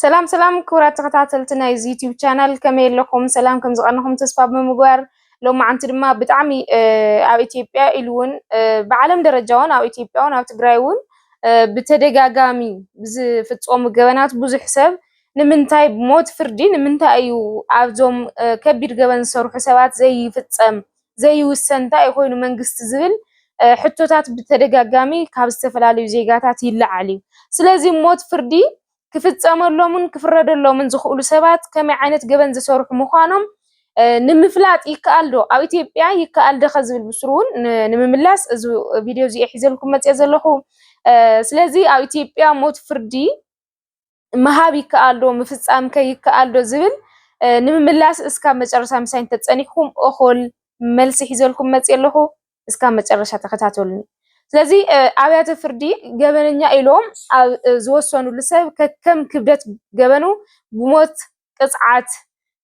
ሰላም ሰላም ክቡራት ተኸታተልቲ ናይ እዚ ዩቲዩብ ቻናል ከመይ ኣለኹም? ሰላም ከም ዝቐነኹም ተስፋ ብምግባር ሎማዓንቲ ድማ ብጣዕሚ ኣብ ኢትዮጵያ ኢሉ እውን ብዓለም ደረጃ እውን ኣብ ኢትዮጵያ እውን ኣብ ትግራይ እውን ብተደጋጋሚ ብዝፍፀሙ ገበናት ብዙሕ ሰብ ንምንታይ ሞት ፍርዲ ንምንታይ እዩ ኣብዞም ከቢድ ገበን ዝሰርሑ ሰባት ዘይፍፀም ዘይውሰን እንታይ እዩ ኮይኑ መንግስቲ ዝብል ሕቶታት ብተደጋጋሚ ካብ ዝተፈላለዩ ዜጋታት ይለዓል እዩ። ስለዚ ሞት ፍርዲ ክፍፀመሎምን ክፍረደሎምን ዝኽእሉ ሰባት ከመይ ዓይነት ገበን ዝሰርሑ ምዃኖም ንምፍላጥ ይከኣል ዶ? ኣብ ኢትዮጵያ ይከኣል ዶ ከዝብል ብስሩ እውን ንምምላስ እዚ ቪድዮ እዚ ሒዘልኩም መፅኦ ዘለኹ። ስለዚ ኣብ ኢትዮጵያ ሞት ፍርዲ ምሃብ ይከኣል ዶ ምፍፃም ከ ይከኣል ዶ ዝብል ንምምላስ እስካብ መጨረሻ ምሳይ እንተፀኒሕኩም እኹል መልሲ ሒዘልኩም መፅኦ ኣለኹ። እስካብ መጨረሻ ተኸታተሉኒ። ስለዚ ኣብያተ ፍርዲ ገበነኛ ኢሎም ኣብ ዝወሰኑሉ ሰብ ከከም ክብደት ገበኑ ብሞት ቅፅዓት፣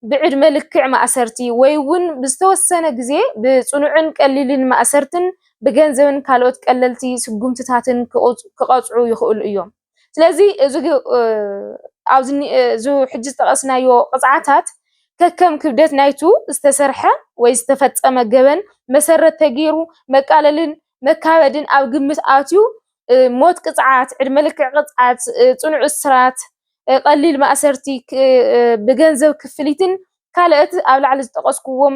ብዕድመ ልክዕ ማእሰርቲ ወይ እውን ብዝተወሰነ ግዜ ብፅኑዕን ቀሊልን ማእሰርትን ብገንዘብን ካልኦት ቀለልቲ ስጉምትታትን ክቐፅዑ ይኽእሉ እዮም። ስለዚ እዚ ኣብዚ ሕጂ ዝጠቐስናዮ ቅፅዓታት ከከም ክብደት ናይቱ ዝተሰርሐ ወይ ዝተፈፀመ ገበን መሰረት ተገይሩ መቃለልን መካበድን ኣብ ግምት ኣትዩ ሞት ቅፅዓት፣ ዕድመ ልክዕ ቅፅዓት፣ ፅኑዕ እስራት፣ ቐሊል ማእሰርቲ፣ ብገንዘብ ክፍሊትን ካልኦት ኣብ ላዕሊ ዝጠቐስኩዎም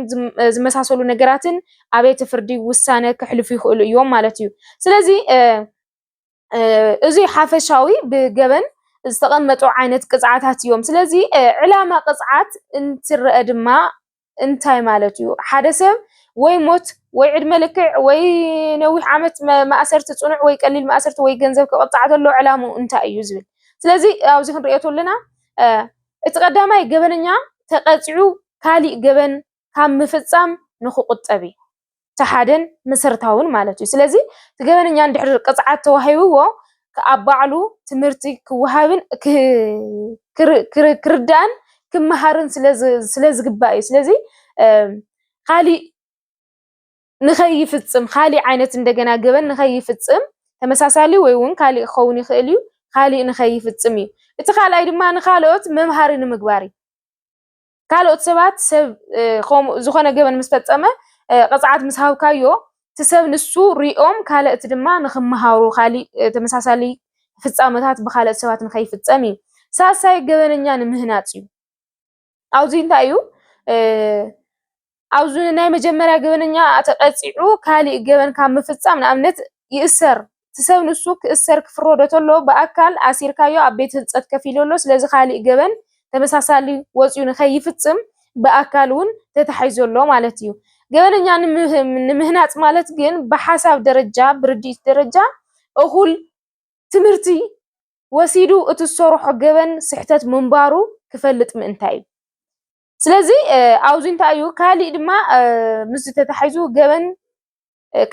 ዝመሳሰሉ ነገራትን ኣብየተ ፍርዲ ውሳነ ከሕልፉ ይኽእሉ እዮም ማለት እዩ። ስለዚ እዙይ ሓፈሻዊ ብገበን ዝተቐመጡ ዓይነት ቅፅዓታት እዮም። ስለዚ ዕላማ ቅፅዓት እንትረአ ድማ እንታይ ማለት እዩ? ሓደ ሰብ ወይ ሞት ወይ ዕድመ ልክዕ ወይ ነዊሕ ዓመት ማእሰርቲ ፅኑዕ ወይ ቀሊል ማእሰርቲ ወይ ገንዘብ ክቕፃዕ ተሎ ዕላምኡ እንታይ እዩ ዝብል። ስለዚ ኣብዚ ክንሪኦ ተለና እቲ ቀዳማይ ገበነኛ ተቐፂዑ ካሊእ ገበን ካብ ምፍጻም ንክቑጠብ እዩ። እቲ ሓደን መሰረታውን ማለት እዩ። ስለዚ እቲ ገበነኛ እንድሕር ቅፅዓት ተዋሂብዎ ኣብ ባዕሉ ትምህርቲ ክወሃብን ክርዳእን ክመሃርን ስለዝግባእ እዩ። ስለዚ ካሊእ ንከይፍፅም ካሊእ ዓይነት እንደገና ገበን ንከይፍፅም ተመሳሳሊ ወይ እውን ካሊእ ክኸውን ይኽእል እዩ ካሊእ ንከይፍፅም እዩ። እቲ ካልኣይ ድማ ንካልኦት መምሃሪ ንምግባር እዩ። ካልኦት ሰባት ሰብ ከምኡ ዝኾነ ገበን ምስ ፈጸመ ቅጽዓት ምስ ሃብካዮ እቲ ሰብ ንሱ ሪኦም ካልእት ድማ ንክመሃሩ ካሊእ ተመሳሳሊ ፍጻመታት ብካልኦት ሰባት ንከይፍጸም እዩ። ሳልሳይ ገበነኛ ንምህናጽ እዩ። ኣብዚ እንታይ እዩ ኣብዚ ናይ መጀመርያ ገበነኛ ተቀፂዑ ካሊእ ገበን ካብ ምፍፃም ንኣብነት ይእሰር እቲ ሰብ ንሱ ክእሰር ክፍረዶ ተሎ ብኣካል ኣሲርካዮ ኣብ ቤት ህንፀት ከፍ ኢሉ ኣሎ ስለዚ ካሊእ ገበን ተመሳሳሊ ወፂኡ ንከይፍፅም ብኣካል እውን ተታሒዙ ኣሎ ማለት እዩ ገበነኛ ንምህናፅ ማለት ግን ብሓሳብ ደረጃ ብርድኢት ደረጃ እኹል ትምህርቲ ወሲዱ እቲ ዝሰርሖ ገበን ስሕተት ምንባሩ ክፈልጥ ምእንታይ እዩ ስለዚ ኣብዚ እንታይ እዩ ካሊእ ድማ ምስ ተታሒዙ ገበን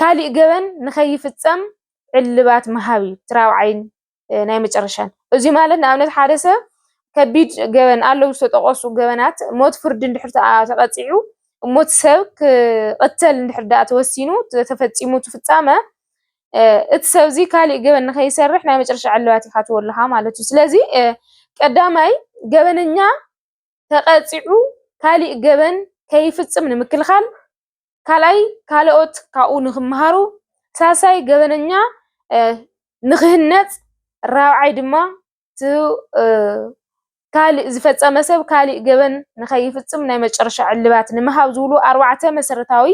ካሊእ ገበን ንኸይፍፀም ዕልባት ምሃብ እዩ እቲ ራብዓይን ናይ መጨረሻን። እዚ ማለት ንኣብነት ሓደ ሰብ ከቢድ ገበን ኣለዉ ዝተጠቐሱ ገበናት ሞት ፍርዲ እንድሕር ተቐፂዑ ሞት ሰብ ክቕተል እንድሕር ዳኣ ተወሲኑ ተፈፂሙ ትፍፃመ እቲ ሰብ እዚ ካሊእ ገበን ንኸይሰርሕ ናይ መጨረሻ ዕልባት ይካትወልኻ ማለት እዩ። ስለዚ ቀዳማይ ገበነኛ ተቐጺዑ ካሊእ ገበን ከይፍጽም ንምክልኻል፣ ካልኣይ ካልኦት ካብኡ ንኽመሃሩ፣ ሳልሳይ ገበነኛ ንኽህነጽ፣ ራብዓይ ድማ ካልእ ዝፈጸመ ሰብ ካልእ ገበን ንኸይፍጽም ናይ መጨረሻ ዕልባት ንምሃብ ዝብሉ ኣርባዕተ መሰረታዊ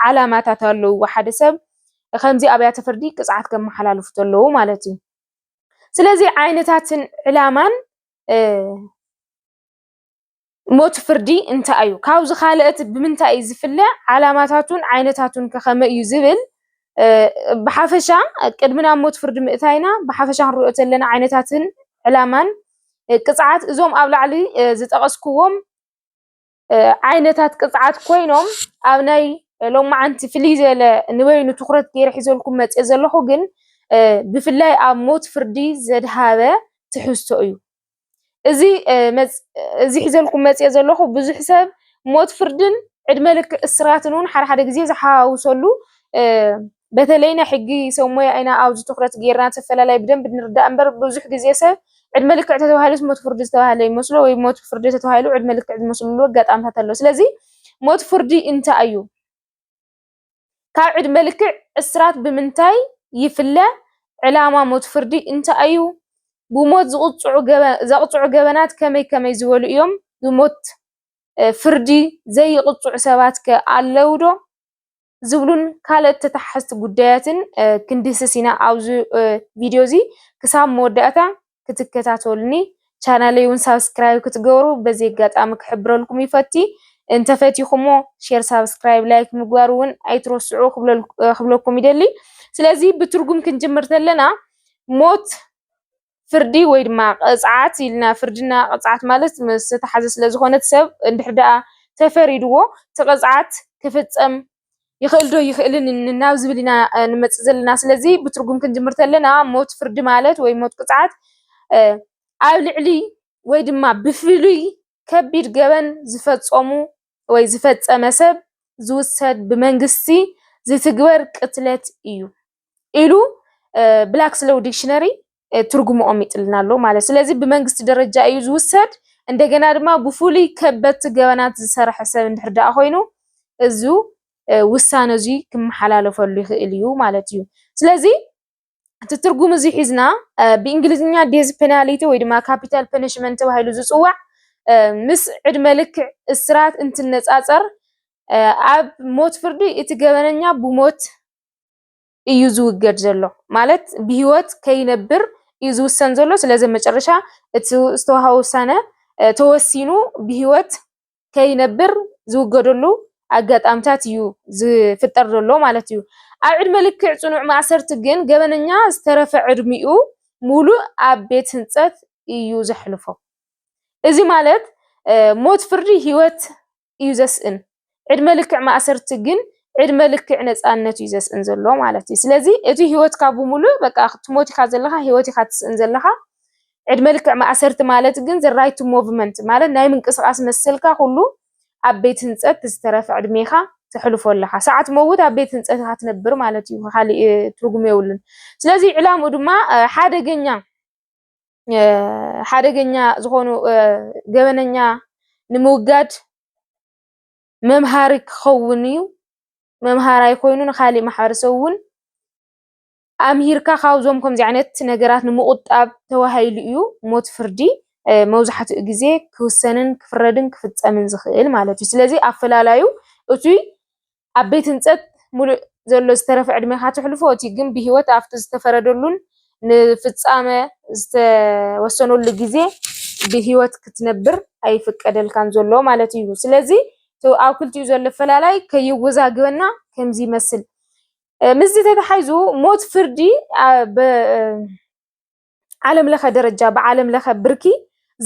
ዓላማታት ኣለውዎ። ሓደ ሰብ ከምዚ ኣብያተ ፍርዲ ቅጽዓት ከመሓላልፉ ተለዉ ማለት እዩ። ስለዚ ዓይነታትን ዕላማን ሞት ፍርዲ እንታይ እዩ? ካብዚ ካልእ እቲ ብምንታይ እዩ ዝፍለ? ዓላማታቱን ዓይነታቱን ከ ከመይ እዩ ዝብል ብሓፈሻ ቅድሚ ናብ ሞት ፍርዲ ምእታይና ብሓፈሻ ክንሪኦ ዘለና ዓይነታትን ዕላማን ቅፅዓት እዞም ኣብ ላዕሊ ዝጠቐስኩዎም ዓይነታት ቅፅዓት ኮይኖም ኣብ ናይ ሎማዓንቲ ፍልይ ዝበለ ንበይኑ ትኹረት ገይረ ሒዘልኩም መፅየ ዘለኹ ግን ብፍላይ ኣብ ሞት ፍርዲ ዘድሃበ ትሕዝቶ እዩ። እዚ ሒዘልኩም መፂኤ ዘለኩ ብዙሕ ሰብ ሞት ፍርድን ዕድመ ልክዕ እስራትን እውን ሓደ ሓደ ግዜ ዝሓዋውሰሉ በተለይ ናይ ሕጊ ሰብ ሞያ ኢና ኣብዚ ትኩረት ገይርና እቲ ኣፈላላይ ብደንቢ ንርዳእ እምበር ብዙሕ ግዜ ሰብ ዕድመ ልክዕ ተተባሂሉስ ሞት ፍርዲ ዝተባህለ ይመስሎ ወይ ሞት ፍርዲ ተተባሂሉ ዕድመ ልክዕ ዝመስልሉ ኣጋጣሚታት ኣሎ። ስለዚ ሞት ፍርዲ እንታይ እዩ? ካብ ዕድመ ልክዕ እስራት ብምንታይ ይፍለ? ዕላማ ሞት ፍርዲ እንታይ እዩ? ብሞት ዘቕጽዑ ገበናት ከመይ ከመይ ዝበሉ እዮም? ብሞት ፍርዲ ዘይቕጽዑ ሰባትከ ኣለዉዶ? ዝብሉን ካልኦት ተተሓሓዝቲ ጉዳያትን ክንድህስስ ኢና ኣብዚ ቪድዮ እዚ። ክሳብ መወዳእታ ክትከታተሉኒ ቻናለይ ውን ሳብስክራይብ ክትገብሩ በዚ ኣጋጣሚ ክሕብረልኩም ይፈቲ እንተፈቲኹሞ ሼር ሳብስክራይብ ላይክ ምግባር ውን ኣይትረስዑ ክብለኩም ይደሊ ስለዚ ብትርጉም ክንጅምር ተለና ሞት ፍርዲ ወይ ድማ ቅፅዓት ኢልና ፍርድና ቅፅዓት ማለት ዝተሓዘ ስለዝኾነት ሰብ እንድሕር ደኣ ተፈሪድዎ እቲ ቅፅዓት ክፍፀም ይኽእል ዶ ይኽእልን ናብ ዝብል ኢና ንመፅእ ዘለና። ስለዚ ብትርጉም ክንጅምር ተለና ሞት ፍርዲ ማለት ወይ ሞት ቅፅዓት ኣብ ልዕሊ ወይ ድማ ብፍሉይ ከቢድ ገበን ዝፈፀሙ ወይ ዝፈፀመ ሰብ ዝውሰድ ብመንግስቲ ዝትግበር ቅትለት እዩ። ኢሉ ብላክ ስሎው ዲክሽነሪ ትርጉሙ ኦሚጥልና ኣሎ ማለት ስለዚ ብመንግስቲ ደረጃ እዩ ዝውሰድ እንደገና ድማ ብፍሉይ ከበድቲ ገበናት ዝሰርሐ ሰብ እንድሕር ደኣ ኮይኑ እዚ ውሳነ እዚ ክመሓላለፈሉ ይኽእል እዩ ማለት እዩ ስለዚ እቲ ትርጉም እዚ ሒዝና ብእንግሊዝኛ ዴዝ ፔናሊቲ ወይ ድማ ካፒታል ፐኒሽመንት ተባሂሉ ዝፅዋዕ ምስ ዕድመ ልክዕ እስራት እንትነፃፀር ኣብ ሞት ፍርዲ እቲ ገበነኛ ብሞት እዩ ዝውገድ ዘሎ ማለት ብሂወት ከይነብር እዩ ዝውሰን ዘሎ ስለዚ ኣብ መጨረሻ እቲ ዝተውሃበ ውሳነ ተወሲኑ ብሂወት ከይነብር ዝውገደሉ ኣጋጣምታት እዩ ዝፍጠር ዘሎ ማለት እዩ። ኣብ ዕድመ ልክዕ ጽኑዕ ማእሰርቲ ግን ገበነኛ ዝተረፈ ዕድሚኡ ሙሉእ ኣብ ቤት ህንጸት እዩ ዘሕልፎ። እዚ ማለት ሞት ፍርዲ ሂወት እዩ ዘስእን ዕድመ ልክዕ ማእሰርቲ ግን ዕድመ ልክዕ ነፃነት እዩ ዘስእን ዘሎ ማለት እዩ። ስለዚ እቲ ህይወትካ ብምሉእ በቃ ክትሞት ኢኻ ዘለኻ ህይወት ኢኻ ትስእን ዘለኻ። ዕድመ ልክዕ ማእሰርቲ ማለት ግን ራይት ቱ ሞቭመንት ማለት ናይ ምንቅስቓስ መሰልካ ኩሉ ኣብ ቤት ህንፀት ዝተረፈ ዕድሜኻ ተሕልፎ ኣለኻ። ሳዕ ትመውት ኣብ ቤት ህንፀት ኢኻ ትነብር ማለት እዩ። ካሊእ ትርጉም የብሉን። ስለዚ ዕላምኡ ድማ ሓደገኛ ሓደገኛ ዝኾኑ ገበነኛ ንምውጋድ መምሃሪ ክኸውን እዩ። መምሃራይ ኮይኑ ንካሊእ ማሕበረሰብ እውን ኣምሂርካ ካብዞም ከምዚ ዓይነት ነገራት ንምቑጣብ ተባሂሉ እዩ ሞት ፍርዲ መብዛሕትኡ ግዜ ክውሰንን ክፍረድን ክፍፀምን ዝኽእል ማለት እዩ። ስለዚ ኣፈላላዩ እቱይ ኣብ ቤት ህንጸት ምሉእ ዘሎ ዝተረፈ ዕድሜኻ ተሕልፎ፣ እቲ ግን ብህይወት ኣብቲ ዝተፈረደሉን ንፍጻመ ዝተወሰነሉ ግዜ ብህይወት ክትነብር ኣይፍቀደልካን ዘሎ ማለት እዩ። ስለዚ እቲ ኣብ ክልቲኡ ዘሎ ኣፈላላይ ከየወዛግበና ከምዚ ይመስል። ምስዚ ተተሓይዙ ሞት ፍርዲ ዓለም ለኸ ደረጃ ብዓለም ለኸ ብርኪ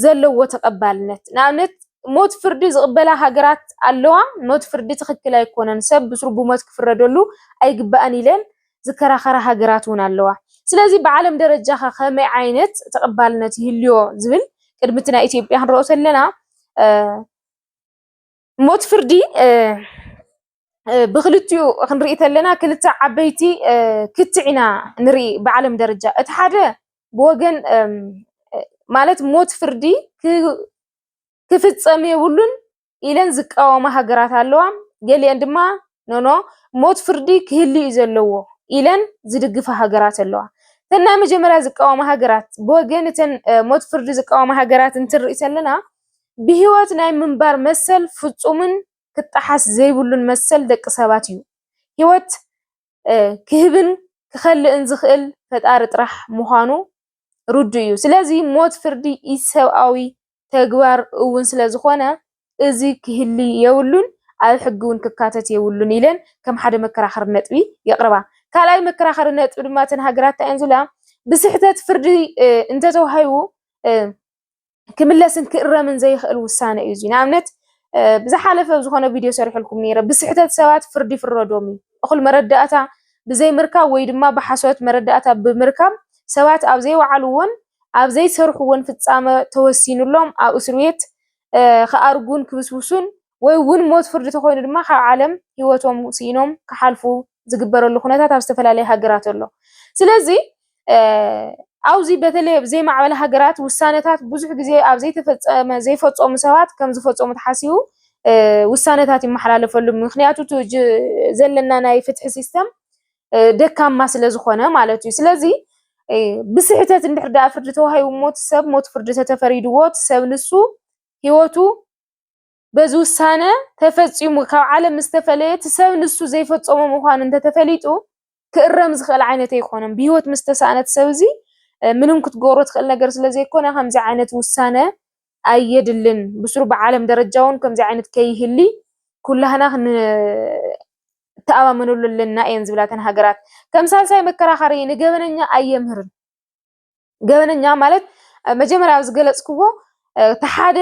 ዘለዎ ተቐባልነት ንኣብነት ሞት ፍርዲ ዝቕበላ ሃገራት ኣለዋ። ሞት ፍርዲ ትኽክል ኣይኮነን፣ ሰብ ብስሩ ብሞት ክፍረደሉ ኣይግባእን ኢለን ዝከራኸራ ሃገራት እውን ኣለዋ። ስለዚ ብዓለም ደረጃ ከ ከመይ ዓይነት ተቐባልነት ይህልዮ ዝብል ቅድሚ እቲ ናይ ኢትዮጵያ ክንረኦ ተለና ሞት ፍርዲ ብክልቲኡ ክንርኢ ተለና ክልተ ዓበይቲ ክትዕ ኢና ንርኢ ብዓለም ደረጃ እቲ ሓደ ብወገን ማለት ሞት ፍርዲ ክፍፀም የብሉን ኢለን ዝቃወማ ሃገራት ኣለዋ ገሊአን ድማ ኖኖ ሞት ፍርዲ ክህሉ እዩ ዘለዎ ኢለን ዝድግፋ ሃገራት ኣለዋ እተን ናይ መጀመርያ ዝቃወማ ሃገራት ብወገን እተን ሞት ፍርዲ ዝቃወማ ሃገራት እንትንርኢ ተለና ብህይወት ናይ ምንባር መሰል ፍፁምን ክጠሓስ ዘይብሉን መሰል ደቂ ሰባት እዩ። ህይወት ክህብን ክኸልእን ዝኽእል ፈጣሪ ጥራሕ ምዃኑ ርዱእ እዩ። ስለዚ ሞት ፍርዲ ኢሰብኣዊ ተግባር እውን ስለዝኾነ እዚ ክህሊ የብሉን፣ ኣብ ሕጊ እውን ክካተት የብሉን ኢለን ከም ሓደ መከራኸሪ ነጥቢ የቕርባ። ካልኣይ መከራኸሪ ነጥቢ ድማ እተን ሃገራት እንታይ እየን ዝብላ ብስሕተት ፍርዲ እንተተዋሂቡ ክምለስን ክእረምን ዘይኽእል ውሳነ እዩ እዙይ። ንኣብነት ብዝሓለፈ ዝኾነ ቪድዮ ሰሪሕልኩም ነይረ፣ ብስሕተት ሰባት ፍርዲ ይፍረዶም እዩ። እኹል መረዳእታ ብዘይምርካብ ወይ ድማ ብሓሶት መረዳእታ ብምርካብ ሰባት ኣብ ዘይወዓልዎን ኣብ ዘይሰርሕዎን ፍፃመ ተወሲኑሎም ኣብ እስርቤት ክኣርጉን ክብስብሱን ወይ እውን ሞት ፍርዲ ተኾይኑ ድማ ካብ ዓለም ህይወቶም ስኢኖም ክሓልፉ ዝግበረሉ ኩነታት ኣብ ዝተፈላለየ ሃገራት ኣሎ። ስለዚ ኣብዚ በተለይ ኣብ ዘይማዕበላ ሃገራት ውሳነታት ብዙሕ ግዜ ኣብ ዘይተፈፀመ ዘይፈፀሙ ሰባት ከም ዝፈፀሙ ተሓሲቡ ውሳነታት ይመሓላለፈሉ። ምክንያቱ እቲ ዘለና ናይ ፍትሒ ሲስተም ደካማ ስለ ዝኾነ ማለት እዩ። ስለዚ ብስሕተት እንድሕር ደኣ ፍርዲ ተዋሂቡ ሞት ሰብ ሞት ፍርዲ ተተፈሪድዎ እቲ ሰብ ንሱ ህይወቱ በዚ ውሳነ ተፈጺሙ ካብ ዓለም ምስ ተፈለየ እቲ ሰብ ንሱ ዘይፈጸሞ ምዃኑ እንተተፈሊጡ ክእረም ዝኽእል ዓይነት ኣይኮነን። ብህይወት ምስ ተሳእነ እቲ ሰብ እዚ ምንም ክትገብሮ ትኽእል ነገር ስለ ዘይኮነ ከምዚ ዓይነት ውሳነ ኣየድልን። ብስሩ ብዓለም ደረጃ እውን ከምዚ ዓይነት ከይህሊ ኩላህና ክንተኣማመነሉ ኣለና እየን ዝብላ እተን ሃገራት። ከም ሳልሳይ መከራኸሪ ንገበነኛ ኣየምህርን። ገበነኛ ማለት መጀመርያ ኣብ ዝገለፅክዎ እቲ ሓደ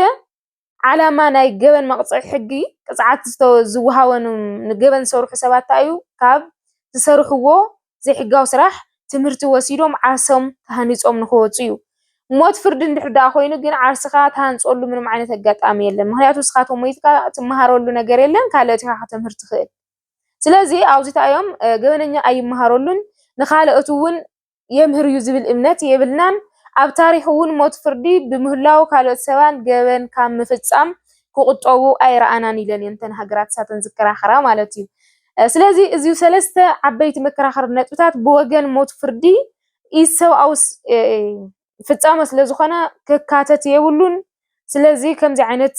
ዓላማ ናይ ገበን መቕፅዒ ሕጊ ቅፅዓት ዝወሃቦም ንገበን ዝሰርሑ ሰባት እንታይ እዩ ካብ ዝሰርሕዎ ዘይሕጋዊ ስራሕ ትምህርቲ ወሲዶም ዓርሶም ሃኒፆም ንኽወፁ እዩ። ሞት ፍርዲ እንድሕር ደኣ ኮይኑ ግን ዓርስኻ ትሃንፀሉ ምንም ዓይነት ኣጋጣሚ የለን። ምክንያቱ ንስኻ ተሞይትካ ትመሃረሉ ነገር የለን ካልኦት ኢኻ ከተምህር ትኽእል። ስለዚ ኣብዚ እንታይ እዮም ገበነኛ ኣይመሃረሉን ንካልኦት እውን የምህር እዩ ዝብል እምነት የብልናን። ኣብ ታሪኽ እውን ሞት ፍርዲ ብምህላዉ ካልኦት ሰባት ገበን ካብ ምፍፃም ክቑጠቡ ኣይረኣናን ኢለን እየን እተን ሃገራት ንሳተን ዝከራኸራ ማለት እዩ። ስለዚ እዚ ሰለስተ ዓበይቲ መከራኸሪ ነጥብታት ብወገን ሞት ፍርዲ ኢሰብኣዊ ፍፃመ ስለ ዝኾነ ክካተት የብሉን። ስለዚ ከምዚ ዓይነት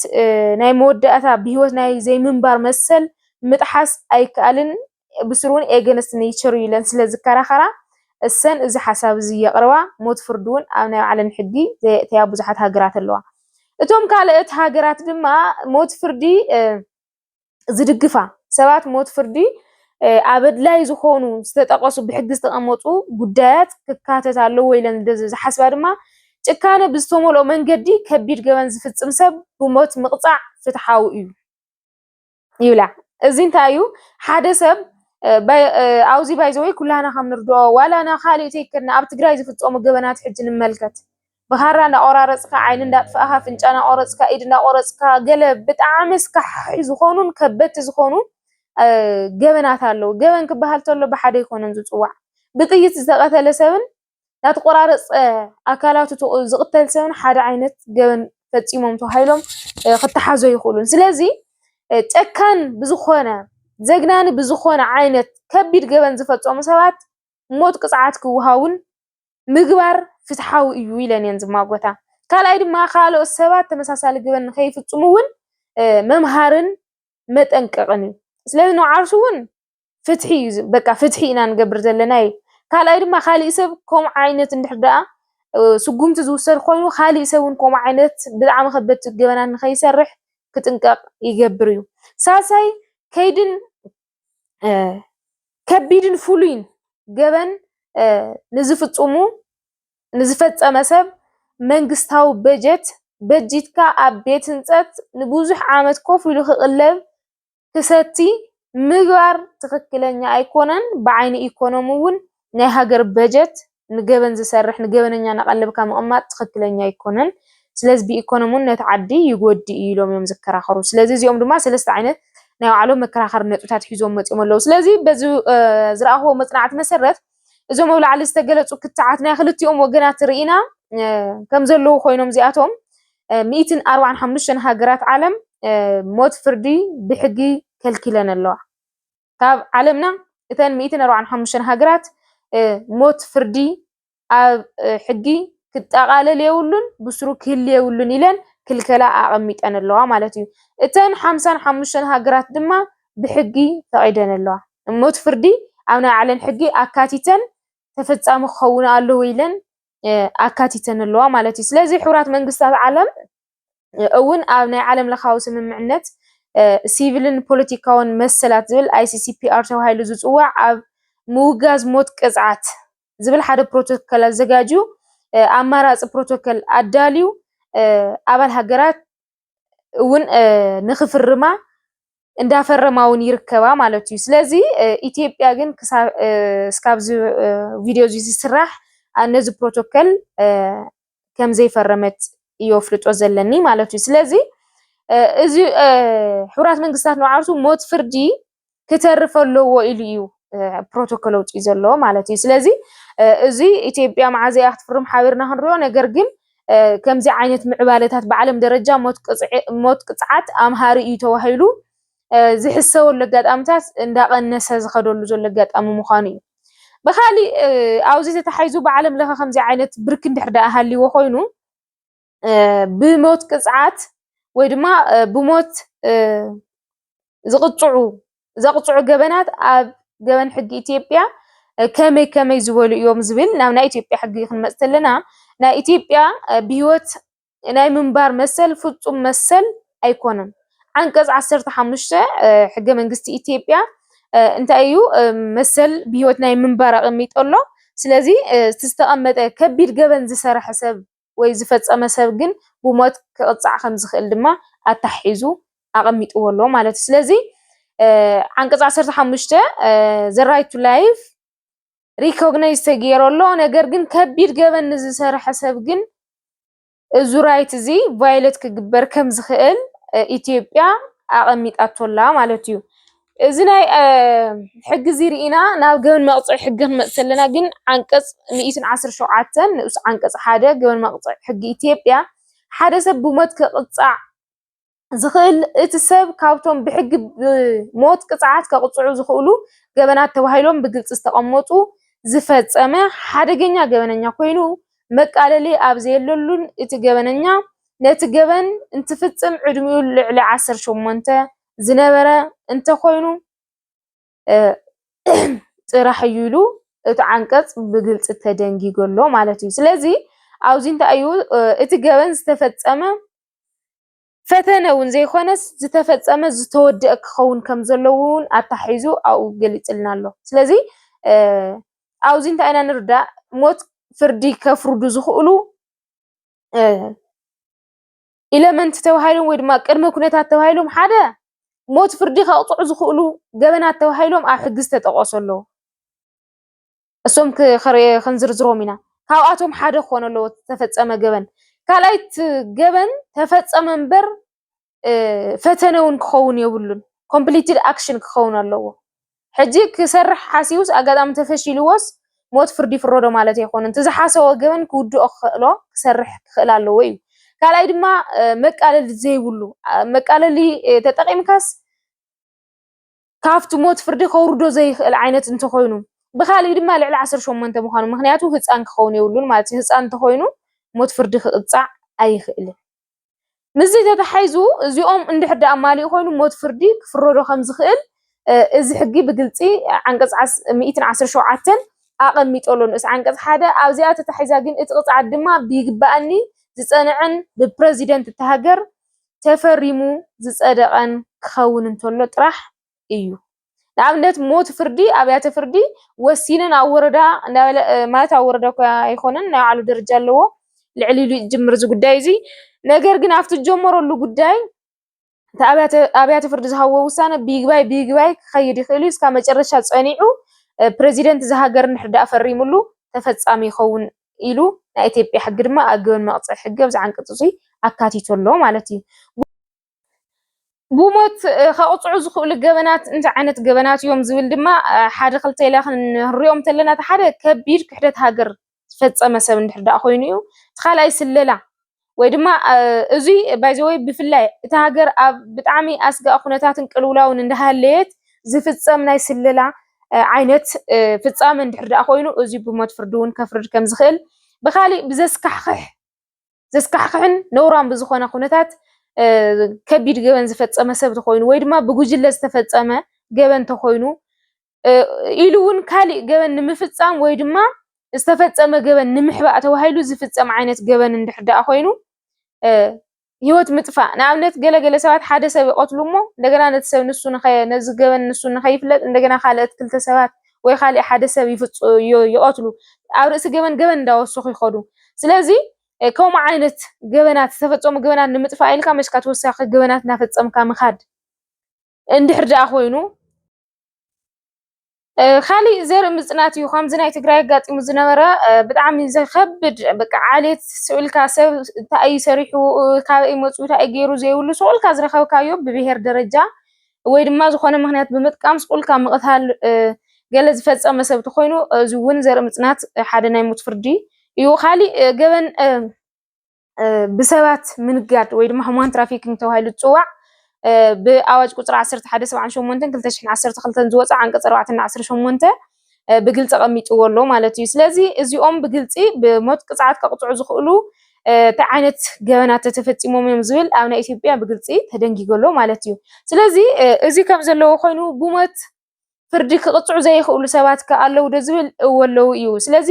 ናይ መወዳእታ ብሂወት ናይ ዘይምንባር መሰል ምጥሓስ ኣይከኣልን። ብስሩ እውን ኤገንስት ነይቸር እዩ ኢለን ስለ ዝከራኸራ እሰን እዚ ሓሳብ እዚ የቕርባ። ሞት ፍርዲ እውን ኣብ ናይ ባዕለን ሕጊ ዘየእተያ ብዙሓት ሃገራት ኣለዋ። እቶም ካልኦት ሃገራት ድማ ሞት ፍርዲ ዝድግፋ ሰባት ሞት ፍርዲ ኣብ ኣድላይ ዝኾኑ ዝተጠቐሱ ብሕጊ ዝተቐመጡ ጉዳያት ክካተት ኣለዎ ኢለን ዝሓስባ ድማ ጭካነ ብዝተመልኦ መንገዲ ከቢድ ገበን ዝፍፅም ሰብ ብሞት ምቕፃዕ ፍትሓዊ እዩ ይብላ። እዚ እንታይ እዩ ሓደ ሰብ ኣብዚ ባይዘወይ ኩላና ከም ንርድኦ ዋላ ናብ ካልእ ተይከድና ኣብ ትግራይ ዝፍፀሙ ገበናት ሕጂ ንመልከት ብኻራ እንዳቆራረፅካ ዓይኒ እንዳጥፋእኻ ኣፍንጫ እንዳቆረፅካ ኢድ እንዳቆረፅካ ገለ ብጣዕሚ ኣስካሕኻሒ ዝኾኑን ከበድቲ ዝኾኑን ገበናት ኣለዉ። ገበን ክበሃል ተሎ ብሓደ ኣይኮነን ዝፅዋዕ ብጥይት ዝተቐተለ ሰብን ናተቆራረፀ ኣካላቱ ዝቕተል ሰብን ሓደ ዓይነት ገበን ፈፂሞም ተባሂሎም ክተሓዙ ኣይኽእሉን። ስለዚ ጨካን ብዝኾነ ዘግናኒ ብዝኾነ ዓይነት ከቢድ ገበን ዝፈፀሙ ሰባት ሞት ቅፅዓት ክወሃቡን ምግባር ፍትሓዊ እዩ ኢለን እየን ዝማጎታ። ካልኣይ ድማ ካልኦት ሰባት ተመሳሳሊ ግበን ንከይፍፅሙ እውን መምሃርን መጠንቀቕን እዩ። ስለዚ ንዓርሱ እውን ፍትሒ እዩ ዝ- በቃ ፍትሒ ኢና ንገብር ዘለና እዩ። ካልኣይ ድማ ካሊእ ሰብ ከምኡ ዓይነት እንድሕር ደኣ እ፣ ስጉምቲ ዝውሰድ ኮይኑ ካሊእ ሰብ እውን ከምኡ ዓይነት ብጣዕሚ ከበድቲ ገበናት ንከይሰርሕ ክጥንቀቕ ይገብር እዩ። ሳልሳይ ከይድን ከቢድን ፍሉይን ገበን ንዝፍፅሙ ንዝፈፀመ ሰብ መንግስታዊ በጀት በጂትካ ኣብ ቤት ህንፀት ንብዙሕ ዓመት ኮፍ ኢሉ ክቕለብ ክሰቲ ምግባር ትኽክለኛ ኣይኮነን። ብዓይኒ ኢኮኖሚ እውን ናይ ሃገር በጀት ንገበን ዝሰርሕ ንገበነኛ እናቀለብካ ምቅማጥ ትኽክለኛ ኣይኮነን። ስለዚ ብኢኮኖሚ እውን ነቲ ዓዲ ይጎድእ እዩ ኢሎም እዮም ዝከራኸሩ። ስለዚ እዚኦም ድማ ሰለስተ ዓይነት ናይ ባዕሎም መከራኸሪ ነጥብታት ሒዞም መፂኦም ኣለዉ። ስለዚ በዚ ዝረኣኽዎ መፅናዕቲ መሰረት እዞም ኣብ ላዕሊ ዝተገለፁ ክትዓት ናይ ክልቲኦም ወገናት ርኢና ከም ዘለዉ ኮይኖም እዚኣቶም ሚእትን ኣርባዓን ሓሙሽተን ሃገራት ዓለም ሞት ፍርዲ ብሕጊ ከልኪለን ኣለዋ። ካብ ዓለምና እተን ሚእትን ኣርብዓን ሓሙሽተን ሃገራት ሞት ፍርዲ ኣብ ሕጊ ክጠቓለል የብሉን ብስሩ ክህል የብሉን ኢለን ክልከላ ኣቐሚጠን ኣለዋ ማለት እዩ። እተን ሓምሳን ሓሙሽተን ሃገራት ድማ ብሕጊ ፈቒደን ኣለዋ። ሞት ፍርዲ ኣብ ናይ ባዕለን ሕጊ ኣካቲተን ተፈጻሚ ክኸውን ኣለዎ ኢለን ኣካቲተን ኣለዋ ማለት እዩ። ስለዚ ሕቡራት መንግስታት ዓለም እውን ኣብ ናይ ዓለም ለኻዊ ስምምዕነት ሲቪልን ፖለቲካውን መሰላት ዝብል ICCPR ተባሂሉ ዝፅዋዕ ኣብ ምውጋዝ ሞት ቅፅዓት ዝብል ሓደ ፕሮቶከል ኣዘጋጅዩ ኣማራፂ ፕሮቶከል ኣዳልዩ ኣባል ሃገራት እውን ንክፍርማ እንዳፈረማ እውን ይርከባ ማለት እዩ ስለዚ ኢትዮጵያ ግን እስካብዚ ቪድዮ እዚ ዝስራሕ ነዚ ፕሮቶከል ከምዘይፈረመት እዮ ኣፍልጦ ዘለኒ ማለት እዩ ስለዚ እዚ ሕራት መንግስታት ንዓርሱ ሞት ፍርዲ ክተርፈ ኣለዎ ኢሉ እዩ ፕሮቶኮል ኣውፅኡ ዘለዎ ማለት እዩ ስለዚ እዚ ኢትዮጵያ መዓዘ እያ ክትፍርም ሓቢርና ክንሪኦ ነገር ግን ከምዚ ዓይነት ምዕባለታት ብዓለም ደረጃ ሞት ቅፅዓት ኣምሃሪ እዩ ተባሂሉ ዝሕሰበሉ ኣጋጣምታት እንዳቐነሰ ዝኸደሉ ዘሎ ኣጋጣሚ ምዃኑ እዩ። ብኻሊእ ኣብዚ ተታሒዙ ብዓለም ለኸ ከምዚ ዓይነት ብርኪ እንድሕር ደኣ ሃልይዎ ኮይኑ ብሞት ቅፅዓት ወይ ድማ ብሞት ዝቕፅዑ ዘቕፅዑ ገበናት ኣብ ገበን ሕጊ ኢትዮጵያ ከመይ ከመይ ዝበሉ እዮም ዝብል ናብ ናይ ኢትዮጵያ ሕጊ ክንመፅእ ተለና ናይ ኢትዮጵያ ብህይወት ናይ ምንባር መሰል ፍፁም መሰል ኣይኮነን። ዓንቀፅ ዓሰርተ ሓሙሽተ ሕገ መንግስቲ ኢትዮጵያ እንታይ እዩ መሰል ብሂወት ናይ ምንባር ኣቐሚጡ ኣሎ። ስለዚ እቲ ዝተቐመጠ ከቢድ ገበን ዝሰረሐ ሰብ ወይ ዝፈፀመ ሰብ ግን ብሞት ክቕፃዕ ከም ዝኽእል ድማ ኣተሓሒዙ ኣቐሚጥዎ ኣሎ ማለት እዩ። ስለዚ ዓንቀፅ ዓሰርተ ሓሙሽተ ዘ ራይት ቱ ላይፍ ሪኮግናይዝ ተገይሩ ኣሎ። ነገር ግን ከቢድ ገበን ንዝሰርሐ ሰብ ግን እዚ ራይት እዚ ቫዮለት ክግበር ከም ዝኽእል ኢትዮጵያ ኣቐሚጣቶላ ማለት እዩ። እዚ ናይ ሕጊ እዚ ርኢና ናብ ገበን መቕፅዒ ሕጊ ክንመፅ ከለና ግን ዓንቀፅ ሚእትን ዓሰርተ ሸውዓተን ንኡስ ዓንቀፅ ሓደ ገበን መቕፅዒ ሕጊ ኢትዮጵያ ሓደ ሰብ ብሞት ክቕፃዕ ዝኽእል እቲ ሰብ ካብቶም ብሕጊ ብሞት ቅፅዓት ከቕፅዑ ዝኽእሉ ገበናት ተባሂሎም ብግልፂ ዝተቐመጡ ዝፈፀመ ሓደገኛ ገበነኛ ኮይኑ መቃለሊ ኣብ ዘየለሉን እቲ ገበነኛ ነቲ ገበን እንትፍፅም ዕድሚኡ ልዕሊ ዓሰርተ ሸሞንተ ዝነበረ እንተኾይኑ ጥራሕ እዩ ኢሉ እቲ ዓንቀፅ ብግልፂ ተደንጊጎ ኣሎ ማለት እዩ። ስለዚ ኣብዚ እንታይ እዩ እቲ ገበን ዝተፈፀመ ፈተነ እውን ዘይኮነስ ዝተፈፀመ ዝተወደአ ክኸውን ከም ዘለዎ እውን ኣታሒዙ ኣብኡ ገሊፅልና ኣሎ። ስለዚ ኣብዚ እንታይ ኢና ንርዳእ ሞት ፍርዲ ከፍርዱ ዝኽእሉ ኢለመንት ተባሂሎም ወይ ድማ ቅድመ ኩነታት ተባሂሎም ሓደ ሞት ፍርዲ ከቕፅዑ ዝኽእሉ ገበናት ተባሂሎም ኣብ ሕጊ ዝተጠቐሱ ኣለዉ። እሶም ክንዝርዝሮም ኢና። ካብኣቶም ሓደ ክኾነ ኣለዎ ዝተፈፀመ ገበን። ካልኣይ እቲ ገበን ተፈፀመ እምበር ፈተነ እውን ክኸውን የብሉን። ኮምፕሊትድ ኣክሽን ክኸውን ኣለዎ። ሕጂ ክሰርሕ ሓሲቡስ ኣጋጣሚ ተፈሺልዎስ ሞት ፍርዲ ይፍረዶ ማለት ኣይኮነን። እቲ ዝሓሰቦ ገበን ክውድኦ ክኽእሎ ክሰርሕ ክኽእል ኣለዎ እዩ። ካልኣይ ድማ መቃለሊ ዘይብሉ መቃለሊ ተጠቂምካስ ካብቲ ሞት ፍርዲ ከውርዶ ዘይክእል ዓይነት እንተኾይኑ ብኻሊእ ድማ ልዕሊ ዓሰርተ ሸሞንተ ምዃኑ ምኽንያቱ ህፃን ክኸውን የብሉን ማለት እዩ ህፃን እንተኾይኑ ሞት ፍርዲ ክቕፃዕ ኣይኽእልን ምስዚ ተታሒዙ እዚኦም እንድሕር ደኣ ማሊኡ ኮይኑ ሞት ፍርዲ ክፍረዶ ከም ዝኽእል እዚ ሕጊ ብግልፂ ዓንቀፅ 117 ኣቐሚጦ ኣሎ ንኡስ ዓንቀፅ ሓደ ኣብዚኣ ተታሒዛ ግን እቲ ቅፅዓት ድማ ብይግባኣኒ ዝፀንዐን ብፕረዚደንት እታ ሃገር ተፈሪሙ ዝጸደቐን ክኸውን እንተሎ ጥራሕ እዩ። ንኣብነት ሞት ፍርዲ ኣብያተ ፍርዲ ወሲነን ኣብ ወረዳ እንዳበለ ማለት ኣብ ወረዳ እኳ ኣይኮነን ናይ ባዕሉ ደረጃ ኣለዎ ልዕል ኢሉ ዝጅምር እዚ ጉዳይ እዚ ነገር ግን ኣብቲ ዝጀመረሉ ጉዳይ እቲ ኣብያተ ፍርዲ ዝሃብዎ ውሳነ ብይግባይ ብይግባይ ክኸይድ ይኽእል እዩ እስካብ መጨረሻ ጸኒዑ ፕረዚደንት እዛ ሃገር እንድሕር ደኣ ፈሪምሉ ተፈጻሚ ይኸውን ኢሉ ናይ ኢትዮጵያ ሕጊ ድማ ኣገባብ መቕፅዒ ሕጊ ኣብዚ ዓንቀፅ እዙይ ኣካቲቱ ኣሎ ማለት እዩ። ብሞት ከቕፅዑ ዝኽእሉ ገበናት እንታይ ዓይነት ገበናት እዮም ዝብል ድማ ሓደ ክልተ ኢላ ክንሪኦም ተለና እቲ ሓደ ከቢድ ክሕደት ሃገር ዝፈፀመ ሰብ እንድሕር ደኣ ኮይኑ እዩ እቲ ካልኣይ ስለላ ወይ ድማ እዙይ ባይዘወይ ብፍላይ እታ ሃገር ኣብ ብጣዕሚ ኣስጋእ ኩነታትን ቅልውላውን እንዳሃለየት ዝፍፀም ናይ ስለላ ዓይነት ፍፃመ እንድሕር ዳኣ ኮይኑ እዙይ ብሞት ፍርዲ እውን ከፍርድ ከም ዝኽእል ብካሊእ ብዘስካሕክሕ ዘስካሕክሕን ነውራን ብዝኾነ ኩነታት ከቢድ ገበን ዝፈፀመ ሰብ ተኾይኑ ወይ ድማ ብጉጅለ ዝተፈፀመ ገበን ተኾይኑ ኢሉ እውን ካሊእ ገበን ንምፍፃም ወይ ድማ ዝተፈፀመ ገበን ንምሕባእ ተባሂሉ ዝፍፀም ዓይነት ገበን እንድሕር ደኣ ኮይኑ ሂወት ምጥፋእ ንኣብነት ገለ ገለ ሰባት ሓደ ሰብ ይቐትሉ እሞ እንደገና ነቲ ሰብ ንሱ ነዚ ገበን ንሱ ንኸይፍለጥ እንደገና ካልኦት ክልተ ሰባት ወይ ካሊእ ሓደ ሰብ ይቐትሉ ኣብ ርእሲ ገበን ገበን እንዳወሰኹ ይኸዱ ስለዚ ከምኡ ዓይነት ገበናት ዝተፈፀሙ ገበናት ንምጥፋእ ኢልካ መስካ ተወሳኺ ገበናት እናፈፀምካ ምኻድ እንድሕር ደኣ ኮይኑ ካሊእ ዘርኢ ምፅናት እዩ ከምዚ ናይ ትግራይ ኣጋጢሙ ዝነበረ ብጣዕሚ ዘኸብድ በቃ ዓሌት ስቕ ኢልካ ሰብ እንታይ እዩ ሰሪሑ ካበይ እዩ መፂኡ እንታይ እዩ ገይሩ ዘይብሉ ስቕ ኢልካ ዝረኸብካዮ ብብሄር ደረጃ ወይ ድማ ዝኾነ ምኽንያት ብምጥቃም ስቕ ኢልካ ምቕታል ገለ ዝፈፀመ ሰብ እንተኾይኑ እዚ እውን ዘርኢ ምፅናት ሓደ ናይ ሞት ፍርዲ እዩ። ካሊእ ገበን ብሰባት ምንጋድ ወይ ድማ ሁማን ትራፊኪንግ ተባሂሉ ዝፅዋዕ ብኣዋጅ ቁፅሪ 1178 2012 ዝወፀ ዓንቀፅ 4 እና 18 ብግልፂ ቀሚጥዎ ኣሎ ማለት እዩ። ስለዚ እዚኦም ብግልፂ ብሞት ቅፅዓት ከቕፅዑ ዝኽእሉ እንታይ ዓይነት ገበናት ተተፈፂሞም እዮም ዝብል ኣብ ናይ ኢትዮጵያ ብግልፂ ተደንጊጎ ኣሎ ማለት እዩ። ስለዚ እዚ ከም ዘለዎ ኮይኑ ብሞት ፍርዲ ክቕፅዑ ዘይኽእሉ ሰባት ከ ኣለዉ ዶ ዝብል እወ ኣለዉ እዩ። ስለዚ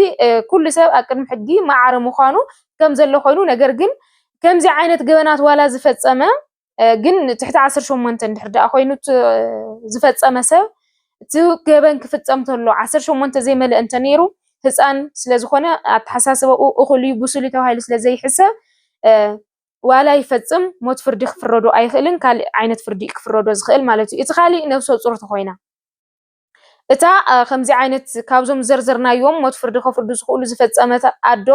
ኩሉ ሰብ ኣብ ቅድሚ ሕጊ ማዕረ ምዃኑ ከም ዘሎ ኮይኑ ነገር ግን ከምዚ ዓይነት ገበናት ዋላ ዝፈፀመ ግን ትሕቲ ዓሰርተ ሸሞንተ እንድሕር ደኣ ኮይኑ ዝፈፀመ ሰብ እቲ ገበን ክፍፀም ተሎ ዓሰርተ ሸሞንተ ዘይመልአ እንተነይሩ ህፃን ስለዝኾነ ኣተሓሳስባኡ እኹል እዩ ብሱል እዩ ተባሂሉ ስለዘይሕሰብ ዋላ ይፈጽም ሞት ፍርዲ ክፍረዶ ኣይኽእልን ካልእ ዓይነት ፍርዲ እዩ ክፍረዶ ዝኽእል ማለት እዩ እቲ ካልእ ነብሰጹር ተኾይና እታ ከምዚ ዓይነት ካብዞም ዘርዘርናዮም ሞት ፍርዲ ከፍርዱ ዝኽእሉ ዝፈጸመት ኣዶ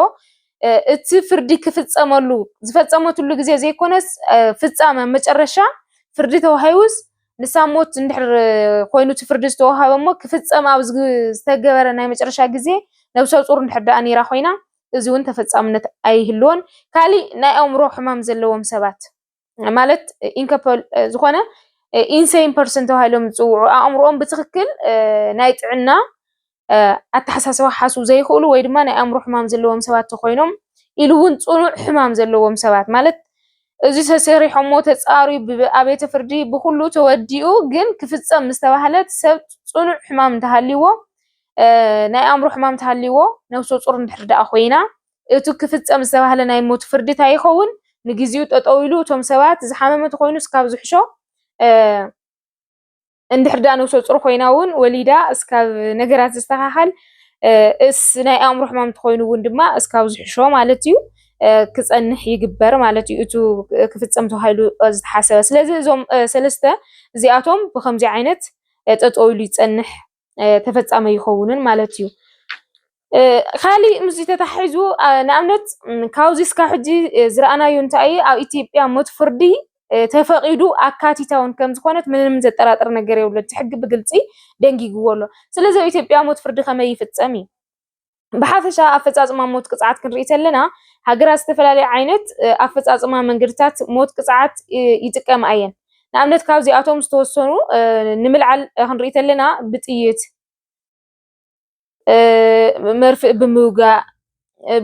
እቲ ፍርዲ ክፍጸመሉ ዝፈጸመትሉ ግዜ ዘይኮነስ ፍጻመ መጨረሻ ፍርዲ ተዋሂቡስ ንሳ ሞት እንድሕር ኮይኑ እቲ ፍርዲ ዝተዋሃበ እሞ ክፍጸም ኣብ ዝተገበረ ናይ መጨረሻ ግዜ ነብሰ ጹር እንድሕር ደኣ ነይራ ኮይና እዚውን ተፈፃምነት ኣይህልዎን። ካሊእ ናይ ኣእምሮ ሕማም ዘለዎም ሰባት ማለት ኢንከፐል ዝኾነ ኢንሴን ፐርሰን ተባሂሎም ዝፅውዑ ኣእምሮኦም ብትክክል ናይ ጥዕና ኣተሓሳስባ ሓስቡ ዘይኽእሉ ወይ ድማ ናይ ኣእምሮ ሕማም ዘለዎም ሰባት ተኮይኖም ኢሉ እውን ፅኑዕ ሕማም ዘለዎም ሰባት ማለት እዚ ተሰሪሖሞ ተፃርዩ ብኣብየተ ፍርዲ ብኩሉ ተወዲኡ ግን ክፍፀም ምስተባህለት ሰብ ፅኑዕ ሕማም እንተሃልይዎ ናይ ኣእምሮ ሕማም እንተሃልይዎ ነብሰ ፁር እንድሕር ደኣ ኮይና እቲ ክፍፀም ዝተባህለ ናይ ሞት ፍርዲ እንታይ ይኸውን? ንግዚኡ ጠጠው ኢሉ እቶም ሰባት ዝሓመመ እንተኾይኑ እስካብ ዝሕሾ እንድሕር ደኣ ነብሰ ፁር ኮይና እውን ወሊዳ እስካብ ነገራት ዝስተኻኸል እስ ናይ ኣእምሮ ሕማም እንተኾይኑ እውን ድማ እስካብ ዝሕሾ ማለት እዩ ክፀንሕ ይግበር ማለት እዩ። እቱ ክፍፀም ተባሂሉ ዝተሓሰበ ስለዚ እዞም ሰለስተ እዚኣቶም ብከምዚ ዓይነት ጠጠው ኢሉ ይፀንሕ ተፈጻሚ ይኸውንን ማለት እዩ። ካሊእ ምስ ተታሒዙ ንኣብነት ካብዚ እስካብ ሕጂ ዝረኣናዮ እንታይ ኣብ ኢትዮጵያ ሞት ፍርዲ ተፈቒዱ ኣካቲታውን ከም ዝኾነት ምንም ዘጠራጥር ነገር የብሉ። እቲ ሕጊ ብግልፂ ደንጊግዎ ኣሎ። ስለዚ ኣብ ኢትዮጵያ ሞት ፍርዲ ከመይ ይፍፀም እዩ? ብሓፈሻ ኣፈፃፅማ ሞት ቅፅዓት ክንርኢ ተለና ሃገራት ዝተፈላለየ ዓይነት ኣፈፃፅማ መንገድታት ሞት ቅፅዓት ይጥቀማ እየን። ንኣብነት ካብዚኣቶም ዝተወሰኑ ንምልዓል ክንርኢ ተለና ብጥይት፣ መርፍእ ብምውጋእ፣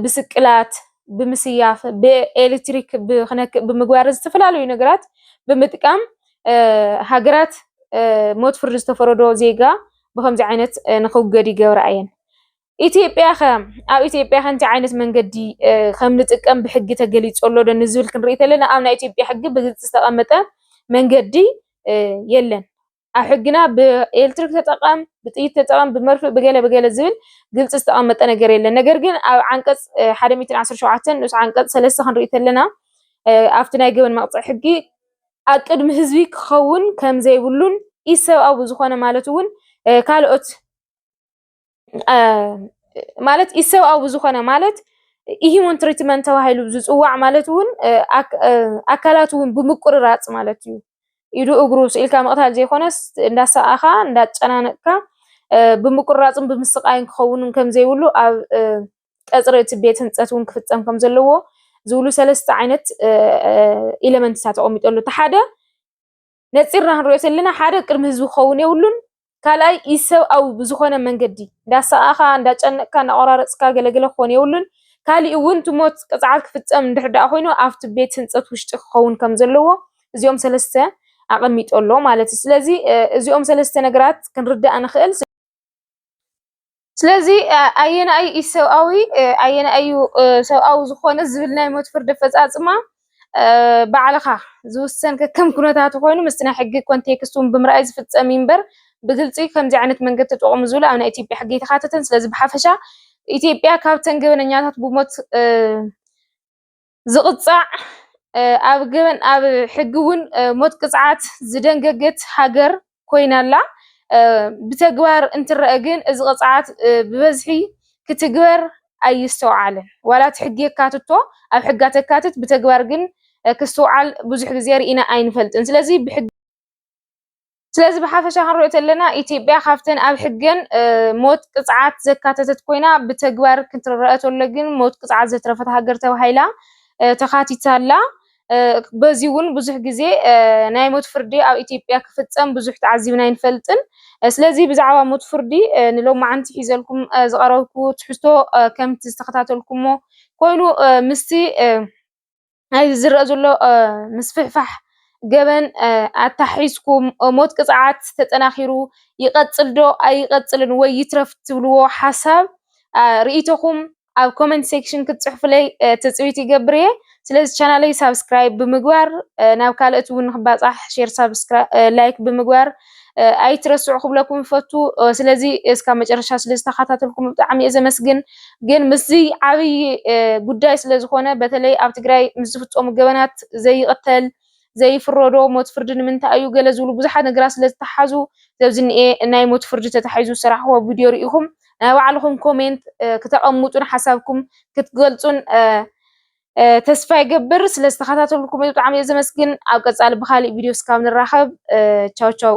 ብስቅላት፣ ብምስያፍ፣ ብኤሌክትሪክ ክነክእ ብምግባር ዝተፈላለዩ ነገራት ብምጥቃም ሃገራት ሞት ፍርዲ ዝተፈረዶ ዜጋ ብከምዚ ዓይነት ንክውገድ ይገብራ እየን። ኢትዮጵያ ከ ኣብ ኢትዮጵያ ከ እንታይ ዓይነት መንገዲ ከም ንጥቀም ብሕጊ ተገሊጹ ኣሎ ዶ ንዝብል ክንርኢ ተለና ኣብ ናይ ኢትዮጵያ ሕጊ ብግልጺ ዝተቐመጠ መንገዲ የለን። ኣብ ሕግና ብኤሌክትሪክ ተጠቐም፣ ብጥይት ተጠቐም፣ ብመርፍእ ብገለ ብገለ ዝብል ግልጺ ዝተቐመጠ ነገር የለን። ነገር ግን ኣብ ዓንቀጽ ሓደ ሚእትን ዓሰርተ ሸውዓተን ንኡስ ዓንቀጽ ሰለስተ ክንርኢ ተለና ኣብቲ ናይ ገበን መቕጽዒ ሕጊ ኣብ ቅድሚ ህዝቢ ክኸውን ከም ዘይብሉን ኢሰብኣዊ ዝኾነ ማለት እውን ካልኦት ማለት ኢሰብኣዊ ብዝኾነ ማለት ኢሂሞን ትሪትመንት ተባሂሉ ዝፅዋዕ ማለት እውን ኣካላት እውን ብምቁርራፅ ማለት እዩ። ኢዱ እግሩ ስኢልካ ምቕታል ዘይኮነስ እንዳሰኣኻ እንዳጨናነቕካ ብምቁርራፅን ብምስቃይን ክኸውን ከም ዘይብሉ ኣብ ቀፅሪ እቲ ቤት ህንፀት እውን ክፍፀም ከም ዘለዎ ዝብሉ ሰለስተ ዓይነት ኢለመንትታት ተቐሚጠሉ እቲ ሓደ ነፂርና ክንሪኦ ተለና ሓደ ቅድሚ ህዝቢ ክኸውን የብሉን፣ ካልኣይ ኢሰብኣዊ ብዝኾነ መንገዲ እንዳሰቓእኻ፣ እንዳጨነቕካ፣ እንዳቖራረፅካ ገለገለ ክኾን የብሉን፣ ካሊእ እውን እቲ ሞት ቅፅዓት ክፍፀም እንድሕር ዳኣ ኮይኑ ኣብቲ ቤት ህንፀት ውሽጢ ክኸውን ከም ዘለዎ እዚኦም ሰለስተ ኣቐሚጡ ኣሎ ማለት እዩ። ስለዚ እዚኦም ሰለስተ ነገራት ክንርዳእ ንኽእል። ስለዚ ኣየናይ እዩ ሰብኣዊ ኣየናይ እዩ ሰብኣዊ ዝኾነ ዝብል ናይ ሞት ፍርዲ ኣፈፃፅማ ባዕልኻ ዝውሰን ከከም ኩነታቱ ኮይኑ ምስቲ ናይ ሕጊ ኮንቴክስት እውን ብምርኣይ ዝፍፀም እዩ እምበር ብግልፂ ከምዚ ዓይነት መንገዲ ተጠቐሙ ዝብሉ ኣብ ናይ ኢትዮጵያ ሕጊ ኣይተካተተን። ስለዚ ብሓፈሻ ኢትዮጵያ ካብተን ገበነኛታት ብሞት ዝቕጻዕ ኣብ ገበን ኣብ ሕጊ እውን ሞት ቅጽዓት ዝደንገገት ሃገር ኮይና ኣላ። ብተግባር እንትረአ ግን እዚ ቅጽዓት ብበዝሒ ክትግበር ኣይስተውዓልን። ዋላ እቲ ሕጊ የካትቶ ኣብ ሕጋ ተካትት ብተግባር ግን ክስትውዓል ብዙሕ ግዜ ርኢና ኣይንፈልጥን። ስለዚ ብሕጊ ስለዚ ብሓፈሻ ክንሪኦ ተለና ኢትዮጵያ ካብተን ኣብ ሕገን ሞት ቅፅዓት ዘካተተት ኮይና ብተግባር ክትረኣ ተሎ ግን ሞት ቅፅዓት ዘትረፈት ሃገር ተባሂላ ተኻቲታ ኣላ። በዚ እውን ብዙሕ ግዜ ናይ ሞት ፍርዲ ኣብ ኢትዮጵያ ክፍፀም ብዙሕ ተዓዚብና ኣይንፈልጥን። ስለዚ ብዛዕባ ሞት ፍርዲ ንሎማዓንቲ ሒዘልኩም ዝቐረብኩ ትሕዝቶ ከምቲ ዝተኸታተልኩሞ ኮይኑ ምስቲ ናይዚ ዝረኣ ዘሎ ምስፍሕፋሕ ገበን ኣተሓሒዝኩ ሞት ቅፅዓት ተጠናኺሩ ይቐፅል ዶ ኣይቐፅልን ወይ ይትረፍ ትብልዎ ሓሳብ ርኢቶኹም ኣብ ኮመንት ሴክሽን ክትፅሕፉለይ ትፅቢት ይገብር እየ። ስለዚ ቻናለይ ሳብስክራይብ ብምግባር ናብ ካልኦት እውን ንክባፃሕ ሼር፣ ሳብስክራይብ፣ ላይክ ብምግባር ኣይትረስዑ ክብለኩም ይፈቱ። ስለዚ እስካብ መጨረሻ ስለ ዝተኸታተልኩም ብጣዕሚ እየ ዘመስግን። ግን ምስዚ ዓብይ ጉዳይ ስለ ዝኾነ በተለይ ኣብ ትግራይ ምስ ዝፍፀሙ ገበናት ዘይቕተል ዘይፍረዶ ሞት ፍርዲ ንምንታይ እዩ ገለ ዝብሉ ብዙሓት ነገራት ስለ ዝተሓዙ ዘብዚ እኒኤ ናይ ሞት ፍርዲ ተታሒዙ ዝሰራሕኹዎ ቪድዮ ርኢኹም ናይ ባዕልኹም ኮሜንት ክተቐምጡን ሓሳብኩም ክትገልፁን ተስፋ ይገብር ስለ ዝተኸታተልኩም ብጣዕሚ እየ ዘመስግን። ኣብ ቀፃሊ ብካሊእ ቪድዮ እስካብ ንራኸብ ቻው ቻው።